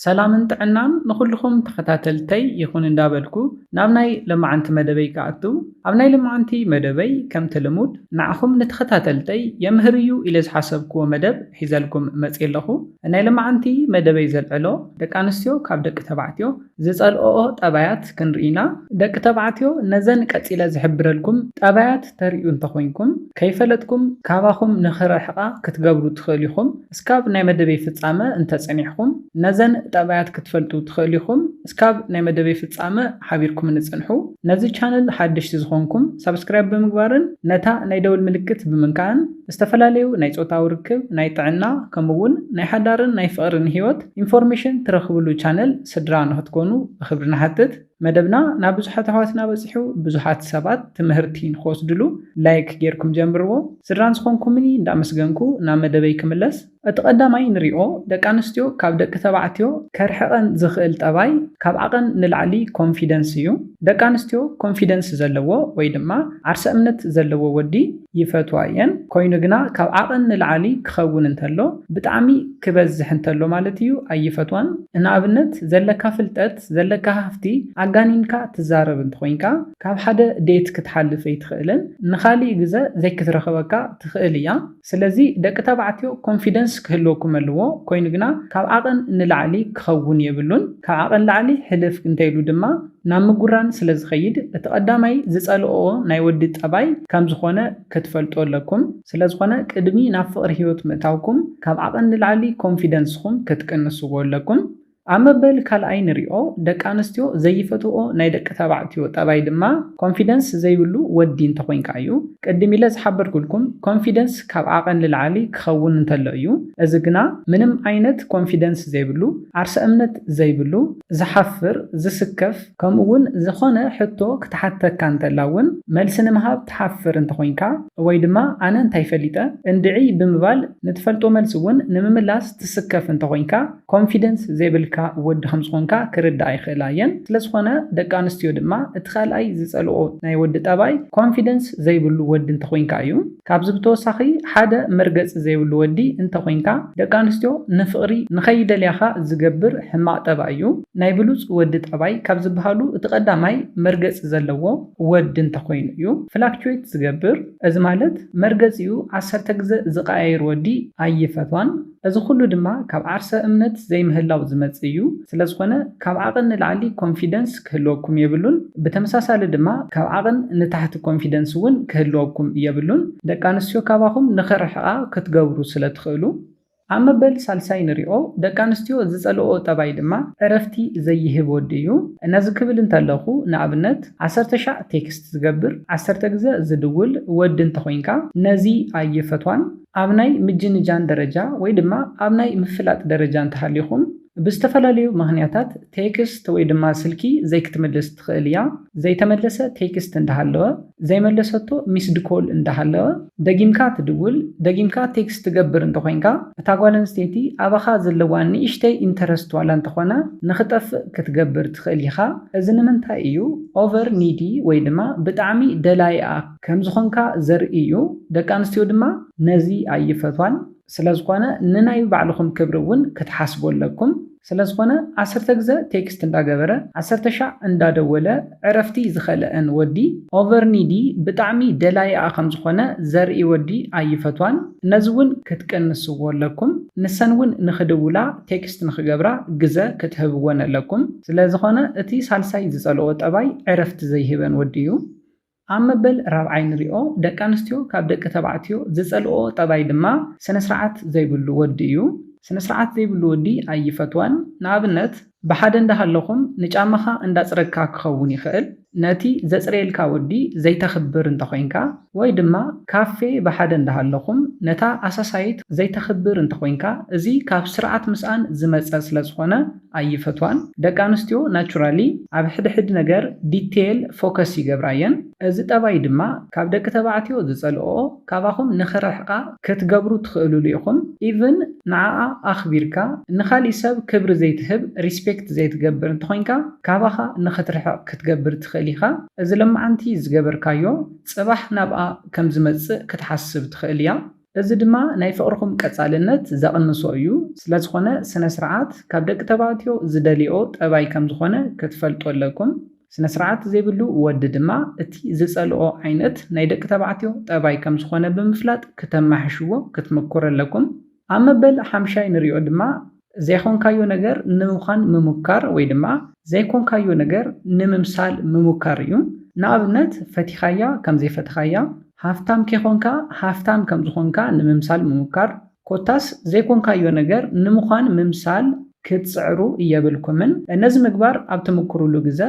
ሰላምን ጥዕናን ንኹልኹም ተኸታተልተይ ይኹን እንዳበልኩ ናብ ናይ ለማዓንቲ መደበይ ክኣቱ ኣብ ናይ ለማዓንቲ መደበይ ከምቲ ልሙድ ንዓኹም ንተኸታተልተይ የምህር እዩ ኢለ ዝሓሰብክዎ መደብ ሒዘልኩም መጽየ ኣለኹ ናይ ለማዓንቲ መደበይ ዘልዕሎ ደቂ ኣንስትዮ ካብ ደቂ ተባዕትዮ ዝጸልኦኦ ጠባያት ክንርኢ ኢና ደቂ ተባዕትዮ ነዘን ቀጺለ ዝሕብረልኩም ጠባያት ተርእዩ እንተኾይንኩም ከይፈለጥኩም ካባኹም ንኽርሕቓ ክትገብሩ ትኽእሉ ኢኹም እስካብ ናይ መደበይ ፍጻመ እንተ ጸኒሕኩም ነዘን ጠባያት ክትፈልጡ ትክእሉ ኢኩም እስካብ ናይ መደበይ ፍጻመ ሓቢርኩምኒ ጽንሑ ነዚ ቻነል ሓደሽቲ ዝኮንኩም ሳብስክራይብ ብምግባርን ነታ ናይ ደውል ምልክት ብምንካእን ዝተፈላለዩ ናይ ጾታዊ ርክብ ናይ ጥዕና ከምኡ ውን ናይ ሓዳርን ናይ ፍቅርን ሂወት ኢንፎርሜሽን ትረክብሉ ቻነል ስድራ ንክትኮኑ ብክብሪ ንሓትት። መደብና ናብ ብዙሓት ኣሕዋትና በጺሑ ብዙሓት ሰባት ትምህርቲ ንክወስድሉ ላይክ ጌርኩም ጀምርዎ ስድራን ዝኮንኩምኒ እንዳ ኣመስገንኩ ናብ መደበይ ክምለስ እቲ ቀዳማይ ንሪኦ ደቂ ኣንስትዮ ካብ ደቂ ተባዕትዮ ከርሕቀን ዝክእል ጠባይ ካብ ዓቀን ንላዕሊ ኮንፊደንስ እዩ ደቂ ኣንስትዮ ኮንፊደንስ ዘለዎ ወይ ድማ ዓርሰ እምነት ዘለዎ ወዲ ይፈትዋ እየን ኮይኑ ግና ካብ ዓቀን ንላዓሊ ክከውን እንተሎ ብጣዕሚ ክበዝሕ እንተሎ ማለት እዩ ኣይፈትዋን እንኣብነት ዘለካ ፍልጠት ፕሮጀክት ዘለካ ሃፍቲ ኣጋኒንካ ትዛረብ እንተኾይንካ ካብ ሓደ ዴት ክትሓልፍ ኣይትኽእልን ንኻሊእ ግዘ ዘይክትረኽበካ ትኽእል እያ ስለዚ ደቂ ተባዕትዮ ኮንፊደንስ ክህልወኩም ኣለዎ ኮይኑ ግና ካብ ዓቐን ንላዕሊ ክኸውን የብሉን ካብ ዓቐን ላዕሊ ሕልፍ እንተይሉ ድማ ናብ ምጉራን ስለዝኸይድ እቲ ቀዳማይ ዝፀልኦ ናይ ወዲ ጠባይ ከምዝኾነ ክትፈልጡ ኣለኩም ስለዝኾነ ቅድሚ ናብ ፍቕሪ ሂወት ምእታውኩም ካብ ዓቐን ንላዕሊ ኮንፊደንስኹም ክትቅንስዎ ኣለኩም ኣብ መበል ካልኣይ ንሪኦ ደቂ ኣንስትዮ ዘይፈትውኦ ናይ ደቂ ተባዕትዮ ጠባይ ድማ ኮንፊደንስ ዘይብሉ ወዲ እንተኾይንካ እዩ። ቅድም ኢለ ዝሓበርኩልኩም ኮንፊደንስ ካብ ዓቐን ንላዕሊ ክኸውን እንተሎ እዩ። እዚ ግና ምንም ዓይነት ኮንፊደንስ ዘይብሉ፣ ዓርሰ እምነት ዘይብሉ፣ ዝሓፍር፣ ዝስከፍ፣ ከምኡ ውን ዝኾነ ሕቶ ክትሓተካ እንተላ ውን መልሲ ንምሃብ ትሓፍር እንተኾይንካ ወይ ድማ ኣነ እንታይ ፈሊጠ እንድዒ ብምባል ንትፈልጦ መልሲ ውን ንምምላስ ትስከፍ እንተኾይንካ ኮንፊደንስ ዘይብልካ ወዲ ከም ዝኾንካ ክርድኣ ይኽእላ እየን ስለዝኾነ ደቂ ኣንስትዮ ድማ እቲ ካልኣይ ዝጸልኦ ናይ ወዲ ጠባይ ኮንፊደንስ ዘይብሉ ወዲ እንተኾይንካ እዩ ካብዚ ብተወሳኺ ሓደ መርገጺ ዘይብሉ ወዲ እንተኾይንካ ደቂ ኣንስትዮ ንፍቕሪ ንኸይደልያኻ ዝገብር ሕማቕ ጠባይ እዩ ናይ ብሉጽ ወዲ ጠባይ ካብ ዝበሃሉ እቲ ቀዳማይ መርገጺ ዘለዎ ወዲ እንተኾይኑ እዩ ፍላክቹዌት ዝገብር እዚ ማለት መርገጺኡ ዓሰርተ ግዘ ዝቐያይር ወዲ ኣይፈትዋን እዚ ኩሉ ድማ ካብ ዓርሰ እምነት ዘይምህላው ዝመጽእ እዩ ስለዝኾነ ካብ ዓቕን ንላዕሊ ኮንፊደንስ ክህልወኩም የብሉን ብተመሳሳሊ ድማ ካብ ዓቕን ንታሕቲ ኮንፊደንስ እውን ክህልወኩም የብሉን ደቂ ኣንስትዮ ካባኹም ንኽርሕቓ ክትገብሩ ስለትኽእሉ። ኣብ መበል ሳልሳይ ንሪኦ ደቂ ኣንስትዮ ዝጸልእኦ ጠባይ ድማ ዕረፍቲ ዘይህብ ወዲ እዩ ነዚ ክብል እንተለኹ ንኣብነት ዓሰርተ ሻዕ ቴክስት ዝገብር ዓሰርተ ግዘ ዝድውል ወዲ እንተኾይንካ ነዚ ኣይፈትዋን ኣብ ናይ ምጅንጃን ደረጃ ወይ ድማ ኣብ ናይ ምፍላጥ ደረጃ እንተሃሊኹም ብዝተፈላለዩ ምኽንያታት ቴክስት ወይ ድማ ስልኪ ዘይክትምልስ ትኽእል እያ። ዘይተመለሰ ቴክስት እንዳሃለወ፣ ዘይመለሰቶ ሚስድ ኮል እንዳሃለወ፣ ደጊምካ ትድውል፣ ደጊምካ ቴክስት ትገብር እንተኾይንካ እታ ጓል ኣንስተይቲ ኣባኻ ዘለዋ ንእሽተይ ኢንተረስት ዋላ እንተኾነ ንኽጠፍእ ክትገብር ትኽእል ኢኻ። እዚ ንምንታይ እዩ ኦቨር ኒዲ ወይ ድማ ብጣዕሚ ደላይኣ ከምዝኾንካ ዘርኢ እዩ ደቂ ኣንስትዮ ድማ ነዚ ኣይፈትዋን ስለዝኾነ ንናይ ባዕልኹም ክብሪ እውን ክትሓስቡ ኣለኩም ስለዝኾነ ዓሰርተ ግዘ ቴክስት እንዳገበረ ዓሰርተ ሻዕ እንዳደወለ ዕረፍቲ ዝኸለአን ወዲ ኦቨር ኒዲ ብጣዕሚ ደላይኣ ከምዝኾነ ዘርኢ ወዲ ኣይፈትዋን ነዚ እውን ክትቅንስዎ ኣለኩም ንሰን እውን ንኽድውላ ቴክስት ንኽገብራ ግዘ ክትህብወን ኣለኩም ስለዝኾነ እቲ ሳልሳይ ዝፀልኦ ጠባይ ዕረፍቲ ዘይህበን ወዲ እዩ። ኣብ መበል ራብዓይ ንሪኦ ደቂ ኣንስትዮ ካብ ደቂ ተባዕትዮ ዝጸልእኦ ጠባይ ድማ ስነ ስርዓት ዘይብሉ ወዲ እዩ። ስነ ስርዓት ዘይብሉ ወዲ ኣይፈትዋን። ንኣብነት ብሓደ እንዳሃለኹም ንጫማኻ እንዳጽረግካ ክኸውን ይኽእል። ነቲ ዘጽርየልካ ወዲ ዘይተኽብር እንተኾይንካ ወይ ድማ ካፌ ብሓደ እንዳሃለኹም ነታ ኣሳሳይት ዘይተኽብር እንተኾይንካ እዚ ካብ ስርዓት ምስኣን ዝመጸ ስለዝኾነ ኣይፈትዋን ደቂ ኣንስትዮ ናቹራሊ ኣብ ሕድ ሕድ ነገር ዲቴል ፎከስ ይገብራ እየን እዚ ጠባይ ድማ ካብ ደቂ ተባዕትዮ ዝጸልኦኦ ካባኹም ንኽርሕቃ ክትገብሩ ትኽእልሉ ኢኹም ኢቭን ንዓኣ ኣኽቢርካ ንኻሊእ ሰብ ክብሪ ዘይትህብ ሪስፔክት ዘይትገብር እንተኾይንካ ካባኻ ንኽትርሕቅ ክትገብር ትኽእል ኢኻ እዚ ለማዓንቲ ዝገበርካዮ ጽባሕ ናብኣ ከምዝመጽእ ክትሓስብ ትኽእል እያ እዚ ድማ ናይ ፍቕርኹም ቀጻልነት ዘቕንሶ እዩ፣ ስለዝኾነ ስነስርዓት ካብ ደቂ ተባዕትዮ ዝደልይኦ ጠባይ ከምዝኾነ ክትፈልጡ ኣለኩም። ስነስርዓት ዘይብሉ ወዲ ድማ እቲ ዝጸልኦ ዓይነት ናይ ደቂ ተባዕትዮ ጠባይ ከምዝኾነ ብምፍላጥ ክተማሕሽዎ ክትምኩሩ ኣለኩም። ኣብ መበል ሓምሻይ ንሪኦ ድማ ዘይኮንካዮ ነገር ንምዃን ምሙካር ወይ ድማ ዘይኮንካዮ ነገር ንምምሳል ምሙካር እዩ። ንኣብነት ፈቲኻያ ከም ዘይፈተኻያ፣ ሃፍታም ኬኾንካ ሃፍታም ከም ዝኾንካ ንምምሳል ምሙካር፣ ኮታስ ዘይኮንካዮ ነገር ንምዃን ምምሳል ክትጽዕሩ የብልኩምን። ነዚ ምግባር ኣብ ትምኩሩሉ ግዘ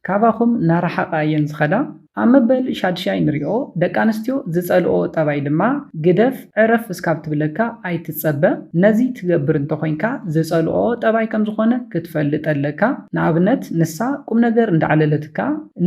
ካባኹም ናራሓቓ እየን ዝኸዳ። ኣብ መበል ሻድሻይ ንሪኦ ደቂ ኣንስትዮ ዝጸልኦ ጠባይ ድማ ግደፍ ዕረፍ እስካብ ትብለካ ኣይትጸበ ነዚ ትገብር እንተኾይንካ ዝጸልኦ ጠባይ ከምዝኾነ ክትፈልጥ ኣለካ ንኣብነት ንሳ ቁምነገር እንዳዕለለትካ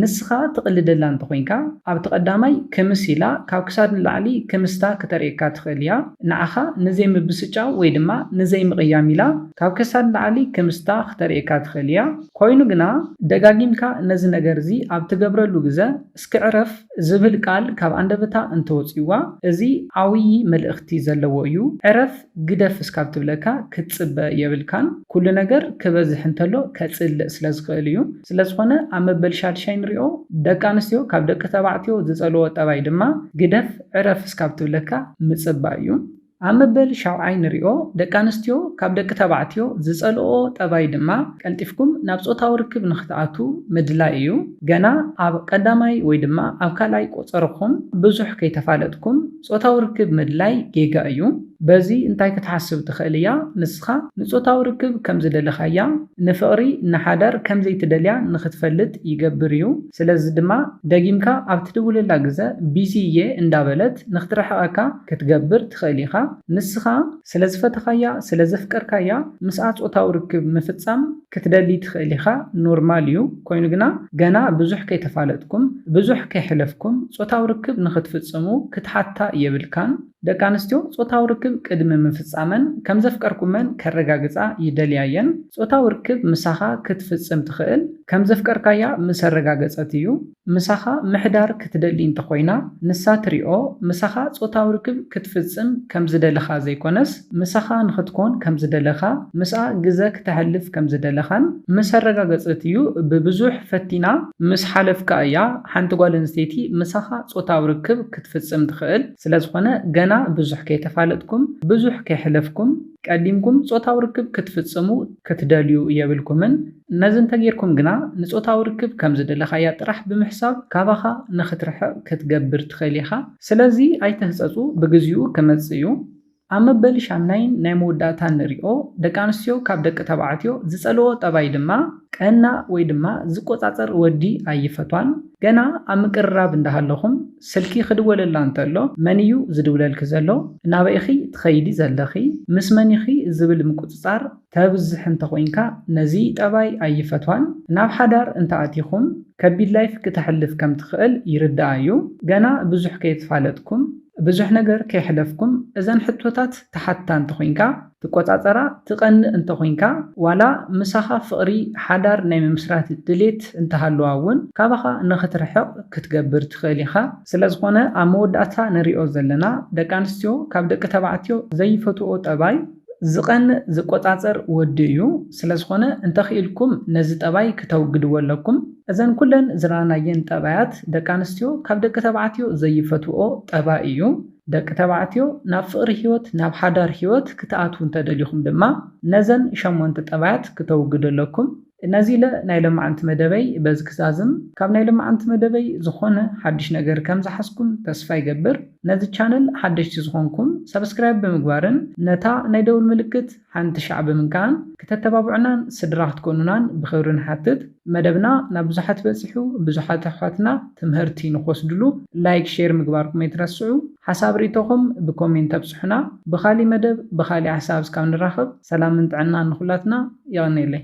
ንስኻ ትቕልደላ እንተኾይንካ ኣብቲ ቀዳማይ ክምስ ኢላ ካብ ክሳድ ንላዕሊ ክምስታ ክተርእየካ ትኽእል እያ ንዓኻ ንዘይምብስጫው ወይ ድማ ንዘይምቕያም ኢላ ካብ ከሳድ ንላዕሊ ክምስታ ክተርእየካ ትኽእል እያ ኮይኑ ግና ደጋጊምካ ነዚ ነገር'ዚ ኣብ ትገብረሉ ግዘ፣ እስኪ ዕረፍ ዝብል ቃል ካብ ኣንደበታ እንተወጺኡዋ፣ እዚ ዓውዪ መልእኽቲ ዘለዎ እዩ። ዕረፍ ግደፍ እስካብ ትብለካ ክትጽበ የብልካን። ኩሉ ነገር ክበዝሕ እንተሎ ከጽልእ ስለ ዝኽእል እዩ። ስለ ዝኾነ ኣብ መበል ሻድሻይ ንሪኦ። ደቂ ኣንስትዮ ካብ ደቂ ተባዕትዮ ዝጸልዎ ጠባይ ድማ ግደፍ ዕረፍ እስካብ ትብለካ ምጽባይ እዩ። ኣብ መበል ሻውዓይ ንሪኦ፣ ደቂ ኣንስትዮ ካብ ደቂ ተባዕትዮ ዝጸልእኦ ጠባይ ድማ ቀልጢፍኩም ናብ ጾታዊ ርክብ ንኽትኣትዉ ምድላይ እዩ። ገና ኣብ ቀዳማይ ወይ ድማ ኣብ ካልኣይ ቆጸራኹም ብዙሕ ከይተፋለጥኩም ጾታዊ ርክብ ምድላይ ጌጋ እዩ። በዚ እንታይ ክትሓስብ ትኽእል እያ፣ ንስኻ ንጾታዊ ርክብ ከም ዝደለኻያ፣ ንፍቕሪ፣ ንሓዳር ከም ዘይትደልያ ንኽትፈልጥ ይገብር እዩ። ስለዚ ድማ ደጊምካ ኣብ ትድውለላ ግዘ ቢዚ እየ እንዳበለት ንክትርሕቀካ ክትገብር ትኽእል ኢኻ። ንስኻ ስለዝፈተኻያ ስለዘፍቀርካያ ምስኣ ፆታዊ ርክብ ምፍፃም ክትደሊ ትኽእል ኢኻ ኖርማል እዩ ኮይኑ ግና ገና ብዙሕ ከይተፋለጥኩም ብዙሕ ከይሕለፍኩም ፆታዊ ርክብ ንክትፍፅሙ ክትሓታ የብልካን። ደቂ ኣንስትዮ ጾታዊ ርክብ ቅድሚ ምፍጻመን ከም ዘፍቀርኩመን ከረጋግጻ ይደልያ እየን። ጾታዊ ርክብ ምሳኻ ክትፍጽም ትኽእል ከም ዘፍቀርካያ ምስ ኣረጋገጸት እዩ። ምሳኻ ምሕዳር ክትደሊ እንተ ኾይና፣ ንሳ ትሪኦ ምሳኻ ጾታዊ ርክብ ክትፍጽም ከም ዝደለኻ ዘይኮነስ፣ ምሳኻ ንኽትኮን ከም ዝደለኻ፣ ምስኣ ግዘ ክተሕልፍ ከም ዝደለኻን ምስ ኣረጋገጸት እዩ። ብብዙሕ ፈቲና ምስ ሓለፍካ እያ ሓንቲ ጓል ኣንስተይቲ ምሳኻ ጾታዊ ርክብ ክትፍጽም ትኽእል። ስለዝኾነ ገና ብዙሕ ከይተፋለጥኩም ብዙሕ ከይሕለፍኩም ቀዲምኩም ጾታዊ ርክብ ክትፍጽሙ ክትደልዩ የብልኩምን። ነዚ እንተጌርኩም ግና ንጾታዊ ርክብ ከም ዝደለኻያ ጥራሕ ብምሕሳብ ካባኻ ንኽትርሕቕ ክትገብር ትኽእል ኢኻ። ስለዚ ኣይትህጸጹ ብግዚኡ ክመጽእ እዩ። ኣብ መበል ሻምናይን ናይ መወዳእታን ንሪኦ ደቂ ኣንስትዮ ካብ ደቂ ተባዕትዮ ዝጸልዎ ጠባይ ድማ ቀና ወይ ድማ ዝቆጻጸር ወዲ ኣይፈትዋን ገና ኣብ ምቅርራብ እንዳሃለኹም ስልኪ ክድወለላ እንተሎ መን እዩ ዝድውለልኪ ዘሎ ናበይ ኢኺ ትኸይዲ ዘለኺ ምስ መን ኢኺ ዝብል ምቁጽጻር ተብዝሕ እንተኾይንካ ነዚ ጠባይ ኣይፈትዋን ናብ ሓዳር እንተኣቲኹም ከቢድ ላይፍ ክተሕልፍ ከምትኽእል ይርድኣ እዩ ገና ብዙሕ ከይትፋለጥኩም ብዙሕ ነገር ከይሕለፍኩም እዘን ሕቶታት ትሓትታ እንተኾይንካ ትቆጻጸራ ትቀንእ እንተኾይንካ ዋላ ምሳኻ ፍቅሪ ሓዳር ናይ ምምስራት ድሌት እንተሃልዋ ውን ካባኻ ንኽትርሕቅ ክትገብር ትኽእል ኢኻ ስለዝኾነ ኣብ መወዳእታ ንሪኦ ዘለና ደቂ ኣንስትዮ ካብ ደቂ ተባዕትዮ ዘይፈትውኦ ጠባይ ዝቀንእ ዝቆጻጸር ወዲ እዩ ስለ ዝኮነ እንተ ኪኢልኩም ነዚ ጠባይ ክተውግድዎ ኣለኩም። እዘን ኩለን ዝረኣናየን ጠባያት ደቂ ኣንስትዮ ካብ ደቂ ተባዕትዮ ዘይፈትውኦ ጠባይ እዩ። ደቂ ተባዕትዮ ናብ ፍቅሪ ሂወት ናብ ሓዳር ሂወት ክትኣትዉ እንተ ደሊኩም ድማ ነዘን ሸሞንተ ጠባያት ክተውግዱ ኣለኩም። ነዚለ ናይ ለማዓንቲ መደበይ በዚ ክዛዝም ካብ ናይ ለማዓንቲ መደበይ ዝኮነ ሓድሽ ነገር ከም ዝሓዝኩም ተስፋ ይገብር ነዚ ቻነል ሓደሽቲ ዝኮንኩም ሳብስክራይብ ብምግባርን ነታ ናይ ደውል ምልክት ሓንቲ ሻዕ ብምንካእን ክተተባብዑናን ስድራ ክትኮኑናን ብክብሪ ንሓትት መደብና ናብ ብዙሓት በጺሑ ብዙሓት ኣሕዋትና ትምህርቲ ንክወስድሉ ላይክ ሼር ምግባርኩም ኣይትረስዑ። ሓሳብ ሪኢቶኹም ብኮሜንት ኣብፅሑና ብኻሊእ መደብ ብኻሊእ ሓሳብ እስካብ ንራኸብ ሰላምን ጥዕናን ንኹላትና የቐኔለይ።